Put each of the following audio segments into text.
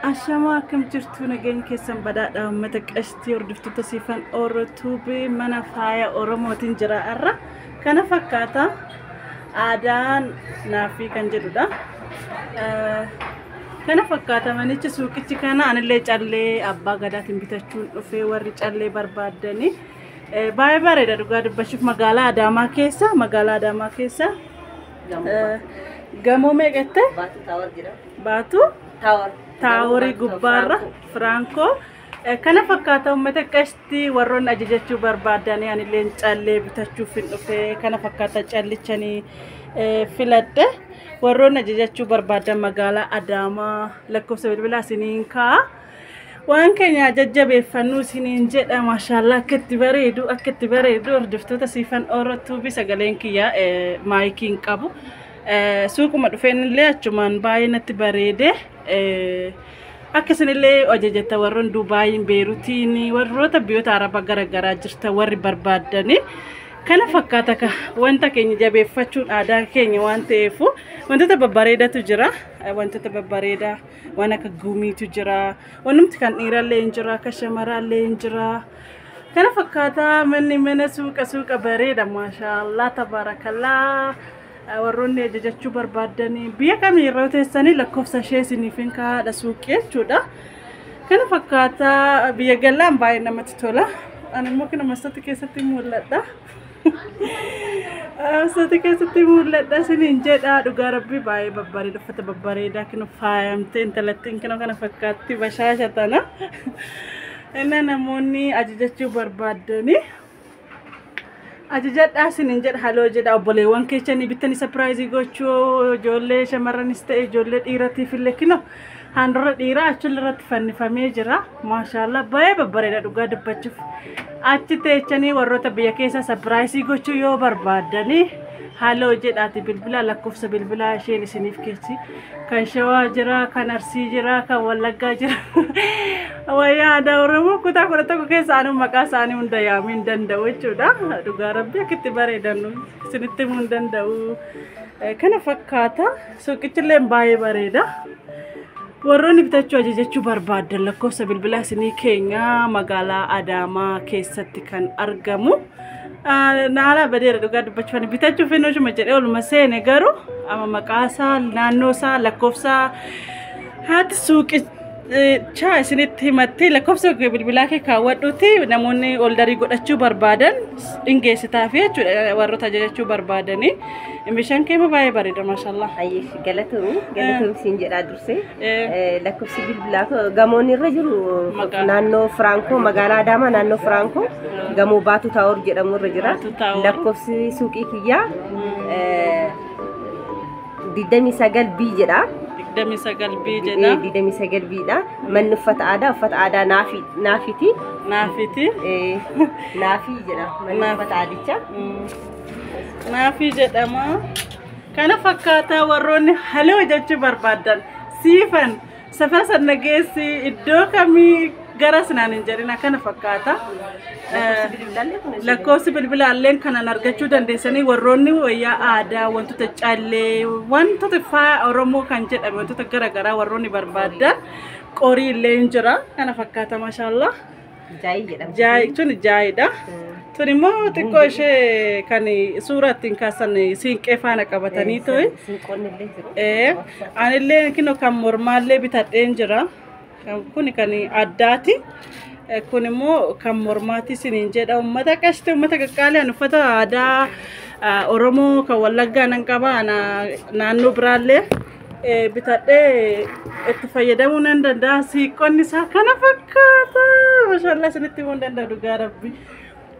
Ashamaa akkam jirtu nageenya keessan badhaadha uummata qashtii hordoftoota siifan Oro Tube mana faaya Oromootiin jira har'a kana fakkaata aadaan naafii kan jedhudha. Eh, Kana fakkaata manichi suuqichi kana anillee callee abbaa gadaatiin bitachuun dhufee warri callee barbaaddanii eh, baay'ee bareeda dhugaa dubbachuuf magaalaa Adaamaa keessa magaalaa Adaamaa keessa Gamoo meeqa jette? Baatu taawar jira. Baatu Taawar. taaworii gubbaarra Firaankoo. Eh, Kana fakkaata uummata qashti warroonni ajajachuu barbaadanii anilleen callee bitachuuf hin dhufe kana fakkaata callichanii eh, filadhe warroonni ajajachuu barbaadan magaalaa Adaamaa lakkoofsa bilbilaa isiniin kaa'a. Waan keenya jajjabeeffannu isiniin jedha maashaallah akka itti bareedu akka itti bareedu hordoftoota siifan ooratuubi sagaleen kiyya eh, maayikii hin qabu. Eh, Suuquma dhufeen illee achumaan baay'ee natti bareede. Eh, Akka isinillee ajajata warroon Duubaayiin Beerutiin warroota biyyoota Arabaa garaagaraa jirta warri barbaaddanii kana fakkaata ka wanta keenya jabeeffachuun aadaa keenya waan ta'eef wantoota babbareedatu jira Eh, wantoota babbareedaa. waan akka gumiitu jira wanumti kan dhiirallee hin jira akka shamaraallee hin jira kana fakkaataa manni mana suuqa suuqa bareeda maashaallah tabaarakallaa warroonni ajajachuu barbaaddanii biyya kamii irra teessanii lakkoofsa ishee isiniif hin kaa'aadha suuqii jechuudha kana fakkaataa biyya galaan baay'ee namatti tola ani immoo kana masatti keessatti mul'adha. Asati keessatti mul'adha isiniin jedha dhugaa rabbii baay'ee babbareeda uffata babbareedaa kinu faayamtee intalattiin kinu kana fakkaatti bashaasha tana inni namoonni ajajachuu barbaaddanii ajajadhaa isiniin jedha haloo jedha obboleewwan keessanii bittanii sapiraayizii gochuu ijoollee shamarranis ta'e ijoollee dhiiratiif illee kinu Handurra dhiiraa achillee irratti fannifamee jira. Maashaallah baay'ee babbareeda dhugaa dubbachuuf. Achi teechanii warroota biyya keessaa sapiraayisii gochuu yoo barbaaddanii haaloo jedhaati bilbilaa lakkoofsa bilbilaa isheen isiniif keessi. Kan shawaa jira, kan arsii jira, kan wallaggaa jira. Wayyaa aadaa Oromoo kutaa kudha tokko keessa anuu maqaa isaanii hunda yaamuu hin danda'u jechuudha. Dhugaa rabbi akkitti bareedan isinitti himuu hin danda'u. Kana fakkaata. Suuqichilleen baay'ee bareeda. Warroonni bitachuu ajajachuu barbaaddan lakkoofsa bilbilaa isinii keenya magaalaa Adaamaa keessatti kan argamu. Naalaa badeera dhugaa dubbachuu ani bitachuu fi nuushuma jedhee oluma seene garuu amma maqaasaa naannoosaa lakkoofsaa haati suuqi Chaa isinitti himattee lakkoofsa bilbilaa kee kaawwadhuuti namoonni oldarii godhachuu barbaadan dhingeessitaaf jechuudha warroota ajajachuu barbaadanii meeshaan kee baay'ee bareeda maashaallah. Ayyee galatoomi galatoomi siin jedhaa dursee Eh, lakkoofsi bilbilaa koo gamoon irra jiru Maqaa. naannoo Firankoo magaalaa Adaamaa naannoo Firankoo gamoo Baatuu Taawor jedhamu irra jira Baatuu Taawor. lakkoofsi suuqii kiyyaa eh, digdamii sagal bii jedha. digdamii sagal bii jedha. digdamii sagal biidha. Manni uffata aadaa uffata aadaa naafi naafiti. Naafiti. Naafii jedha manni uffata aadicha. Naafii jedhama. Kana fakkaataa warroonni haloo jechuu barbaadan siifan Safara san na geessi iddoo kamii garas naan hin jedhin akkana fakkaata. Lakkoofsi bilbilaa illeen kanan argachuu dandeessanii warroonni wayyaa aadaa wantoota callee wantoota faaya Oromoo kan jedhame wantoota garaagaraa warroonni barbaadan qorii illee hin jira kana fakkaata mashallah. Jaayii jedhamti. Jaay tun jaayidha. Tun immoo xiqqoo ishee kan suuraa ittiin kaasan siinqee faana qabatanii ta'e. Sinqoonni illee jiru. Ee, anillee kino kan mormaallee bitadheen jira. Kan- Kun kan addaati. Eh, Kun immoo kan mormaati siniin jedha. Uummata qashti, uummata qaqqaalee uffata aadaa ah, Oromoo kan Wallaggaa nan qaba. Ana- Naannoo biraallee bitadhee itti fayyadamuu nan danda'a siiqqonni isaa kana fakkaata mashallah isinitti himuu hin danda'a dhugaa rabbi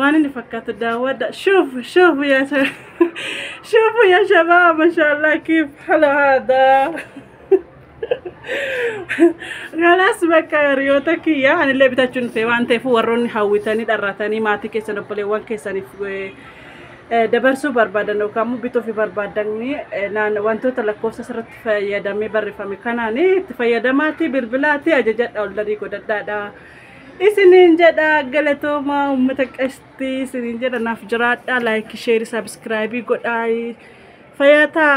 waan inni fakkaatu daawwadha shuuf shuuf yaa shuuf yaa shabaa mashallah kiif hala haadaa Galas bakka hiriyoota kiyya anillee bitachuun dhufee waan ta'eef warroonni hawwitanii dharratanii maatii keessan obboleewwan keessaniif dabarsuu barbaadan yookaan immoo bituuf barbaadan wantoota lakkoofsa irratti fayyadamee barreeffame kanaan itti fayyadamaatii bilbilaatii ajajadha oldarii godhadhaadha. Isiniin jedha galatoomaa uummata qashtii isiniin jedha naaf jiraadha laayikii sheerii sabiskiraayibii godhaa fayyaa ta'a.